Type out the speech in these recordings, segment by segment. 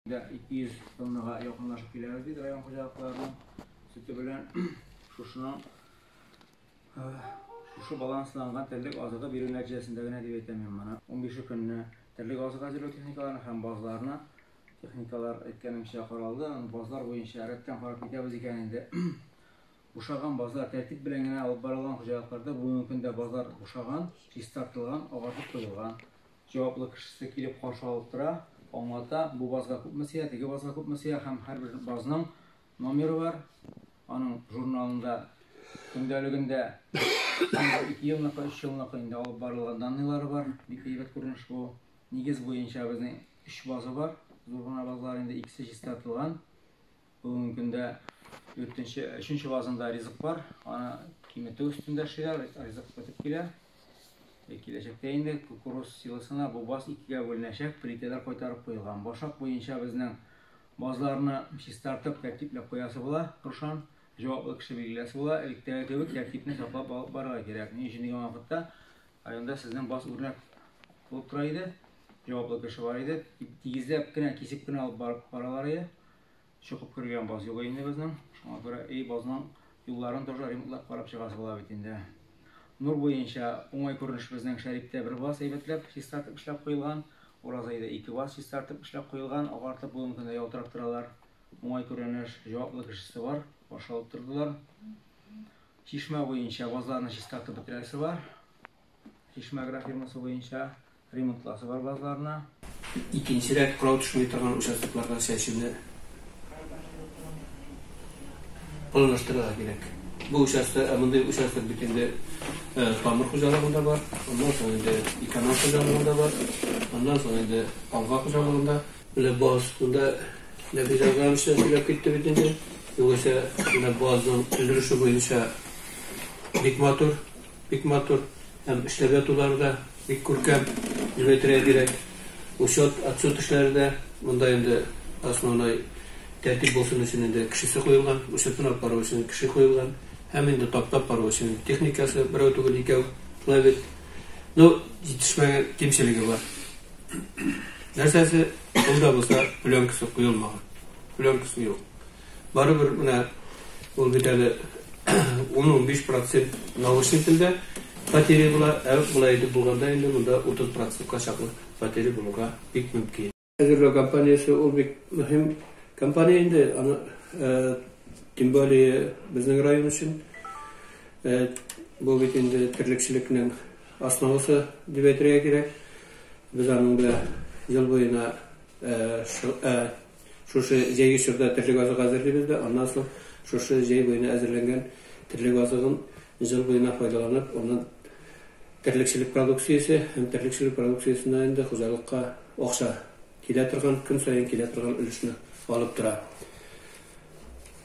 Дә 200 тоннага якынлашып киләбез, диде район хуҗалыкларының сөте белән шушының шушы балансланган терлек азыгы бирү нәтиҗәсендә генә дип әйтәм мин моны. 15 көнне терлек азык әзерләү техникаларына һәм базларына техникалар әйткәнемчә каралды. Базлар буенча рәттән карап китәбез икән инде. Бушаган базлар тәртип белән генә алып барылган хуҗалыкларда бүгенге көндә базлар бушаган, чистартылган, агартып куелган. Җаваплы кешесе килеп каршы алып тора, аңлата, бу базга күпме сыя, теге базга күпме сыя һәм һәрбер базның номеры бар, аның журналында, көндәлегендә ике елныкы, өч елныкы инде алып барылган данныйлары бар, бик әйбәт күренеш бу. Нигез буенча безнең өч база бар, зур гына базалар инде, икесе чистартылган. Бүгенге көндә дүртенче, өченче вазында ризык бар, аны киметү өстендә эшлиләр, ризык бетеп килә. Э, киләчәктә инде кукуруз силосына бу баз икегә бүленәчәк, плитәләр кайтарып куелган. Башак буенча безнең базларны чистартып, тәртипләп куясы була, Рушан җаваплы кеше билгеләсе була, элеккеге кебек тәртипне саклап алып барырга кирәк. Ни өчен дигән вакытта районда сезнең баз үрнәк булып тора иде, җаваплы кеше бар иде, тигезләп кенә, кисеп кенә алып барып баралар иде. Чокып кергән баз юлы инде безнең. Шуңа күрә и базның юлларын тоже ремонтлап карап чыгасы була бит инде. Нур буенча уңай күренеш безнең Шәриптә бер баз әйбәтләп чистартып эшләп куелган. Уразайда ике баз чистартып эшләп куелган, агартып бүгенге көндә ялтырап торалар. Уңай күренеш, җаваплы кешесе бар, каршы алып тордылар. Чишмә буенча базларны чистартып бетерәсе бар. Чишмә агрофирмасы буенча Ремонтласы бар базларына. Икенче рәт кырау төшми торган участокларга чәчүне планлаштырырга кирәк. Бу участок, ә мондый участок бит инде тамыр хуҗалыгында бар, аннан соң инде эконом хуҗалыгында бар, аннан соң инде алга хуҗалыгында. Менә баз, монда Нәфис Әгъзамович та сөйләп китте бит инде. Югыйсә, менә базның өлеше буенча бик матур. Бик матур һәм эшләргә тулары да бик күркәм, дип әйтергә кирәк. Учет, отчет эшләре дә монда инде основной тәртип булсын өчен инде кешесе куелган, учетын алып бару өчен кеше куелган һәм инде таптап бару өчен техникасы берәү түгел икәү шулай бит. Ну, җитешмәгән кимчелеге бар. Нәрсәсе, ул да булса пленкасы куелмаган. Пленкасы юк. Барыбер менә ул бит әле ун-унбиш процент наушнителдә потери була, ә болай итеп булганда инде монда утыз процентка чаклы потери булырга бик мөмкин. Әзерләү компаниясе ул бик мөһим компания инде, аны тем более безнең район өчен. Бу бит инде терлекчелекнең основасы дип әйтергә кирәк. Без аның белән ел буена Шушы җәйге чорда терлек азыгы әзерлибез дә, аннан соң шушы җәй буена әзерләнгән терлек азыгын җыл буена файдаланып, аннан терлекчелек продукциясе һәм терлекчелек продукциясеннән инде хуҗалыкка акча килә торган, көн саен килә торган өлешне алып тора.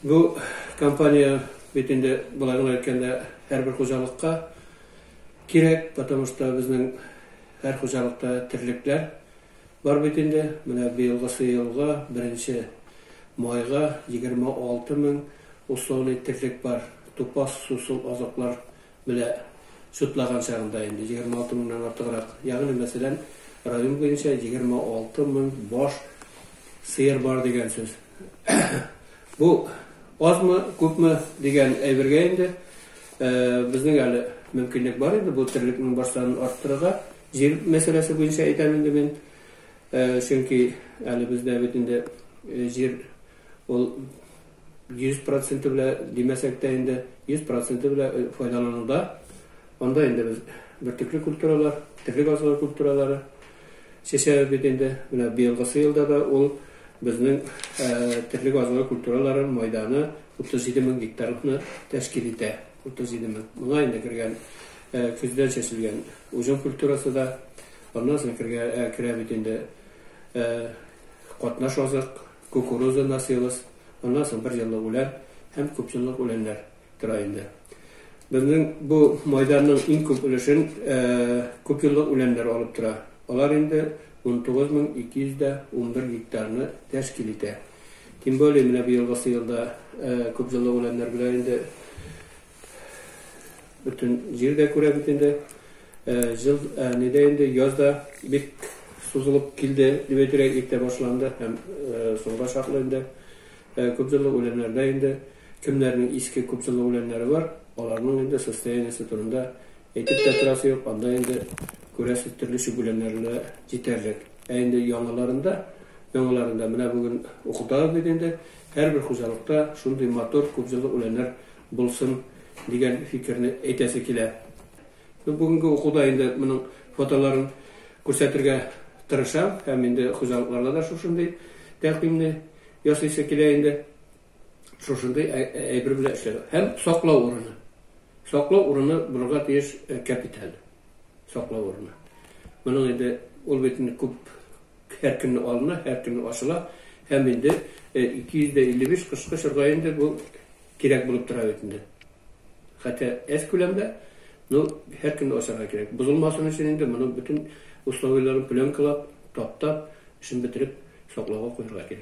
Бу компания бит инде болай гына әйткәндә һәрбер хуҗалыкка кирәк, потому что безнең һәр хуҗалыкта терлекләр. Бар бит инде, менә быелгысы елга, беренче майга, 26 мең условный терлек бар, тупас сусыл азыклар белә чутлаган чагында инде, 26 меңнән артыграк. Ягъни, мәсәлән, район буенча 26 мең баш сыер бар дигән сүз. Бу азмы, күпме дигән әйбергә инде, безнең әле мөмкинлек бар инде бу терлекнең баш санын арттырырга. Җир мәсьәләсе буенча әйтәм инде мин, чөнки әле бездә бит инде җир ул 100 проценты белә димәсәк тә инде 100 проценты белә файдалануда. Анда инде без бөртекле культуралар, терлек азыгы культуралары чәчәбез бит инде. Менә быелгысы елда да ул безнең терлек азыгы культуралары мәйданы 37 мең гектарны тәшкил итә. Утыз җиде мең. Моңа инде кергән, көздән чәчелгән уҗым культурасы да, аннан соң кергә, керә бит инде катнаш азык, кукуруза, насилос, аннан соң бер еллык үлән һәм күп еллык үләннәр тора инде. Безнең бу майданның иң күп өлешен күп еллык үләннәр алып тора. Алар инде унтугыз мең ике йөз дә унбер гектарны тәшкил итә. Тем более, менә быелгы сыерда күп җылы үләннәр белән инде бөтен җир дә күрә бит инде. Җыл нидә инде яз да бик сузылып килде, дип әйтергә иртә башланды һәм соңга чаклы инде күп җылы үләннәрдә инде кемнәрнең иске күп җылы үләннәре бар, аларның инде состояниесе турында әйтеп тә торасы юк, анда инде күрәсез төрле чүп үләннәре дә җитәрлек. Ә инде яңаларында, яңаларында, менә бүген укытабыз бит инде, һәрбер хуҗалыкта шундый матур күп җыллы үләннәр булсын дигән фикерне әйтәсе килә. Ну, бүгенге укуда инде моның фотоларын күрсәтергә тырышам һәм инде хуҗалыкларда да шушындый тәкъдимне ясыйсы килә инде. Шушындый әйбер белән эшләр. Һәм саклау урыны. Саклау урыны булырга тиеш капиталь. саклау урыны. Моның инде ул бит инде күп һәр көнне алына, һәр көнне асыла һәм инде 255 кышкы чорда инде бу кирәк булып тора бит инде. Хәтта әз күләмдә, но һәр көнне асарга кирәк. Бозылмасын өчен инде моны бөтен условиеләрен пленкалап, таптап, эшен бетереп саклауга куярга кирәк.